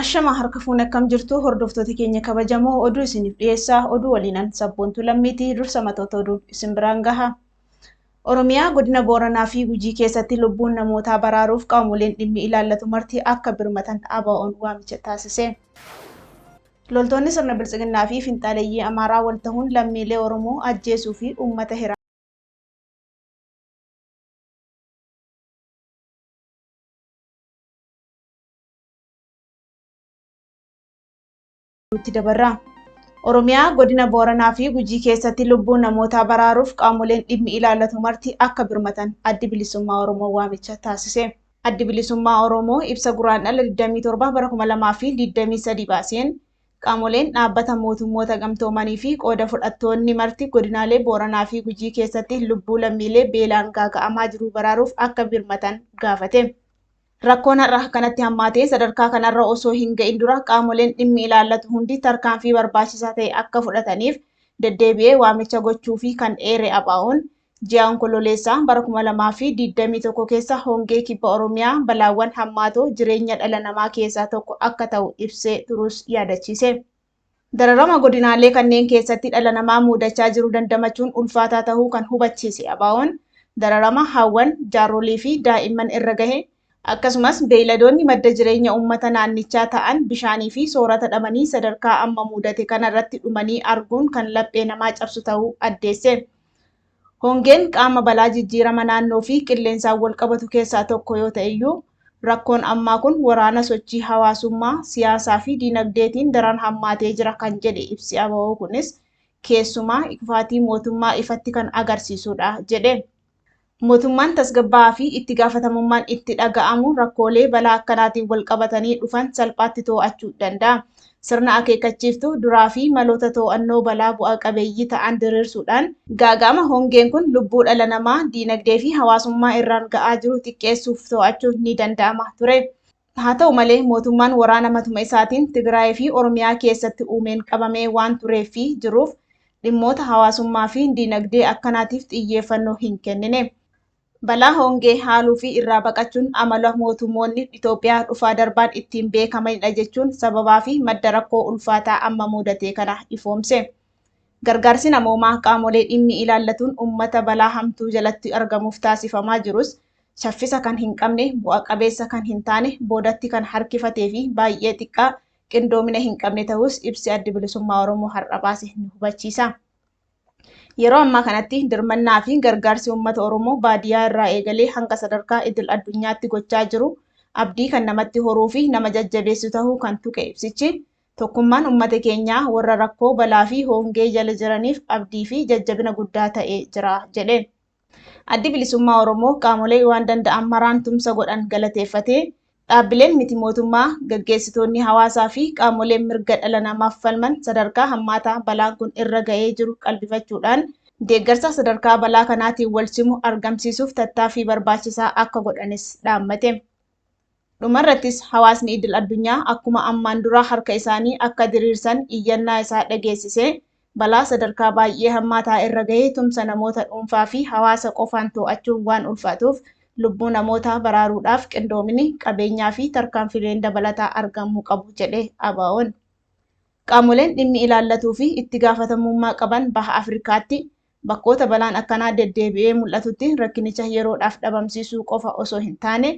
Ashamaa harka fuune akkam jirtu hordoftoota keenya kabajamoo oduu isiniif dhiyeessaa oduu waliinan sabboontuu lammiitii dursa matoota oduu isin biraan gaha. Oromiyaa godina Booranaa fi Gujii keessatti lubbuun namootaa baraaruuf qaamoleen dhimmi ilaallatu marti akka birmatan ABO'n waamicha taasise. Loltoonni sirna biltsiginnaa fi finxaaleeyyii Amaaraa wal tahuun lammiilee Oromoo ajjeesuu fi uummata hiraa itti dabarra. Oromiyaa godina Booranaa fi Gujii keessatti lubbuu namootaa baraaruuf qaamoleen dhimmi ilaallatu marti akka birmatan addi bilisummaa Oromoo waamicha taasise. Addi bilisummaa Oromoo ibsa guraandhala 27 bara 2023 baaseen qaamoleen dhaabbata mootummoota gamtoomanii fi qooda fudhattoonni marti godinaalee Booranaa fi Gujii keessatti lubbuu lammiilee beelaan gaaga'amaa jiru baraaruuf akka birmatan gaafate. Rakkoon har'a kanatti hammaatee sadarkaa kanarra osoo hin ga'in dura qaamoleen dhimmi ilaallatu hundi tarkaanfii barbaachisaa ta'e akka fudhataniif deddeebi'ee waamicha gochuufii kan eere ABOn, ji'a Onkololeessaa bara 2021 keessa hongee Kibba Oromiyaa balaawwan hammaatoo jireenya dhala namaa keessaa tokko akka ta'u ibsee turuus yaadachiise. Dararama godinaalee kanneen keessatti dhala namaa muudachaa jiru dandamachuun ulfaataa tahuu kan hubachiise ABOn, dararama haawwan, jaarrolii fi daa'imman irra gahe, akkasumas beeyladoonni madda jireenya uummata naannichaa ta'an bishaanii fi soorata dhabanii sadarkaa amma muudate kana irratti dhumanii arguun kan laphee namaa cabsu tahuu addeesse. Hongeen qaama balaa jijjiirama naannoo fi qilleensaan walqabatu keessaa tokko yoo ta'e iyyuu rakkoon ammaa kun waraana sochii hawaasummaa, siyaasaa fi diinagdeetiin daran hammaatee jira kan jedhe ibsi ABO kunis keessumaa kufaatii mootummaa ifatti kan agarsiisudha jedhe. Mootummaan tasgabbaa'aa fi itti gaafatamummaan itti dhaga'amu rakkoolee balaa akkanaatiin walqabatanii dhufan salphaatti to'achuu danda'a. Sirna akeekkachiiftuu duraa fi maloota too'annoo balaa bu'a qabeeyyii ta'an diriirsuudhaan, gaaga'ama hongeen kun lubbuu dhala namaa, diinagdee fi hawaasummaa irraan ga'aa jiru xiqqeessuuf too'achuun ni danda'ama ture. Haa ta'u malee, mootummaan waraana matuma isaatiin Tigraayii fi Oromiyaa keessatti uumeen qabamee waan tureef fi jiruuf, dhimmoota hawaasummaa fi diinagdee akkanaatiif xiyyeeffannoo hin kennine. Balaa hongee haaluu fi irraa baqachuun amala mootummoonni Itoophiyaa dhufaa darbaan ittiin beekamanidha jechuun sababaa fi madda rakkoo ulfaataa amma muudatee kana ifoomse. Gargaarsi namoomaa qaamolee dhimmi ilaallatuun uummata balaa hamtuu jalatti argamuuf taasifamaa jirus shaffisa kan hin qabne, bu'a qabeessa kan hin taane, boodatti kan harkifatee fi baay'ee xiqqaa qindoomina hin qabne ta'uus ibsi Addi Bilisummaa Oromoo har'a baase ni hubachiisa. Yeroo ammaa kanatti dirmannaa fi gargaarsi uummata Oromoo baadiyyaa irraa eegalee hanga sadarkaa idil addunyaatti gochaa jiru abdii kan namatti horuu fi nama jajjabeessu tahuu kan tuqe ibsichi tokkummaan uummata keenyaa warra rakkoo balaa fi hoongee jala jiraniif abdii fi jajjabina guddaa ta'ee jira jedhe. Addi Bilisummaa Oromoo qaamolee waan danda'an maraan tumsa godhan galateeffatee, dhaabbileen miti mootummaa, gaggeessitoonni hawaasaa fi qaamoleen mirga dhala namaaf falman sadarkaa hammaataa balaan kun irra ga'ee jiru qalbifachuudhaan deeggarsa sadarkaa balaa kanaatiin walsimu argamsiisuuf tattaaffii barbaachisaa akka godhanis dhaammate. Dhumarrattis hawaasni idil addunyaa akkuma ammaan duraa harka isaanii akka diriirsan iyyannaa isaa dhageessisee, balaa sadarkaa baay'ee hammaataa irra gahe tumsa namoota dhuunfaa fi hawaasa qofaan too'achuun waan ulfaatuuf lubbuu namootaa baraaruudhaaf qindoomini, qabeenyaa fi tarkaanfileen dabalataa argamuu qabu jedhe ABOn. Qaamoleen dhimmi ilaallatuu fi itti gaafatamummaa qaban Baha Afrikaatti Bakkoota balaan akkanaa deddeebi'ee mul'atutti rakkinicha yeroodhaaf dhabamsiisuu qofa osoo hin taane,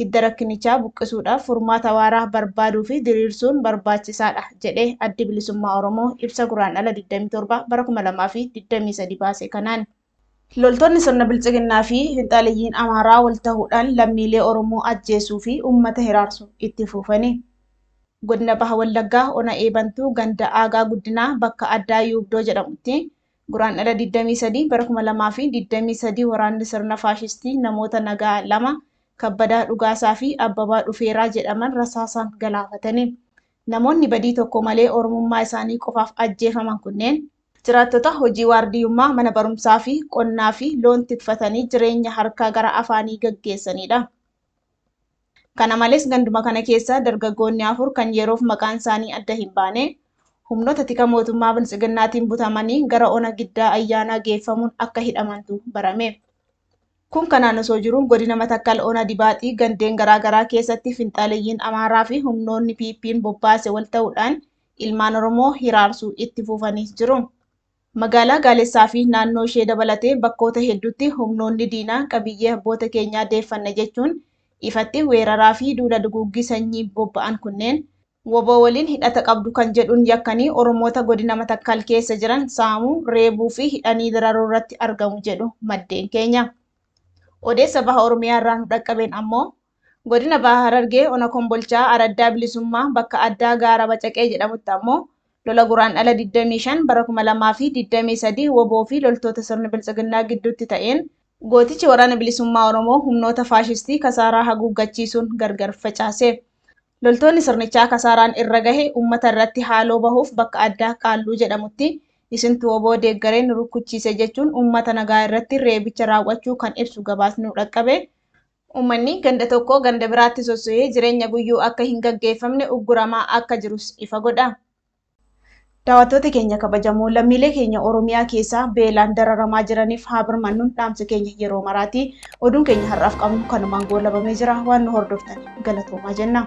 hidda rakkinichaa buqqisuudhaaf furmaata waaraa barbaaduu fi diriirsuun barbaachisaa dha, jedhe Addi Bilisummaa Oromoo ibsa Guraandhala 27 bara 2023 baase kanaan. Loltoonni sirna Biltsiginnaa fi finxaaleyyiin Amaaraa wal tahuudhaan lammiilee Oromoo ajjeesuu fi uummata hiraarsu itti fuufani. Godina Baha Wallaggaa Ona Eebantuu ganda Aagaa Guddinaa bakka addaa Yuubdoo jedhamutti Guraandhala 23 bara 2023 waraanni sirna faashistii namoota nagaa lama Kabbadaa Dhugaasaa fi Abbabaa Dhufeeraa jedhaman rasaasaan galaafatani. Namoonni badii tokko malee Oromummaa isaanii qofaaf ajjeefaman kunneen, jiraattota hojii waardiyyummaa mana barumsaa fi qonnaa fi loon tikfatanii jireenya harkaa gara afaanii gaggeessaniidha. Kana malees ganduma kana keessaa dargaggoonni afur kan yeroof maqaan isaanii adda hin baane humnoota tika mootummaa Biltsiginnaatiin butamanii gara ona Giddaa Ayyaanaa geeffamuun akka hidhamantu barame. Kun kanaan osoo jiru godina Matakkal ona Dibaaxii gandeen garaa garaa keessatti finxaaleyyiin Amaaraa fi humnoonni PP'n bobbaase wal ta'uudhaan ilmaan Oromoo hiraarsuu itti fufaniis jiru. Magaalaa Gaalessaa fi naannoo ishee dabalatee bakkoota hedduutti humnoonni diinaa qabiyyee abboota keenyaa deeffanna jechuun ifatti weeraraa fi duula duguuggii sanyii bobba'an kunneen, wbo waliin hidhata qabdu kan jedhuun yakkanii Oromoota Godina Matakkal keessa jiran saamuu, reebuu fi hidhanii dararuu irratti argamu jedhu maddeen keenya. Odeessa Baha Oromiyaa irraa nu dhaqqabeen ammoo, Godina Baha Harargee Ona Kombolchaa Araddaa Bilisummaa bakka addaa Gaara Bacaqee jedhamutti ammoo lola Guraandhala 25 bara 2023 wbo fi loltoota sirni Biltsiginnaa gidduutti ta'een gootichi Waraana Bilisummaa Oromoo humnoota faashistii kasaaraa haguuggachiisuun gargar facaase. Loltoonni sirnichaa kasaaraan irra gahe uummata irratti haaloo bahuuf bakka addaa Qaalluu jedhamutti isintu wbo deeggaree nu rukkuchiise jechuun uummata nagaa irratti reebicha raaw'achuu kan ibsu gabaasni nu dhaqqabe Uummanni ganda tokkoo ganda biraatti sossohee jireenya guyyuu akka hin gaggeeffamne ugguramaa akka jirus ifa godha. Daawattoota keenya kabajamoo, lammiilee keenya Oromiyaa keessaa beelaan dararamaa jiraniif haa birmannun dhaamsa keenya yeroo maraati. Oduun keenya har'aaf qabnu kanumaan goolabamee jira. Waan nu hordoftaniif galatoomaa jenna.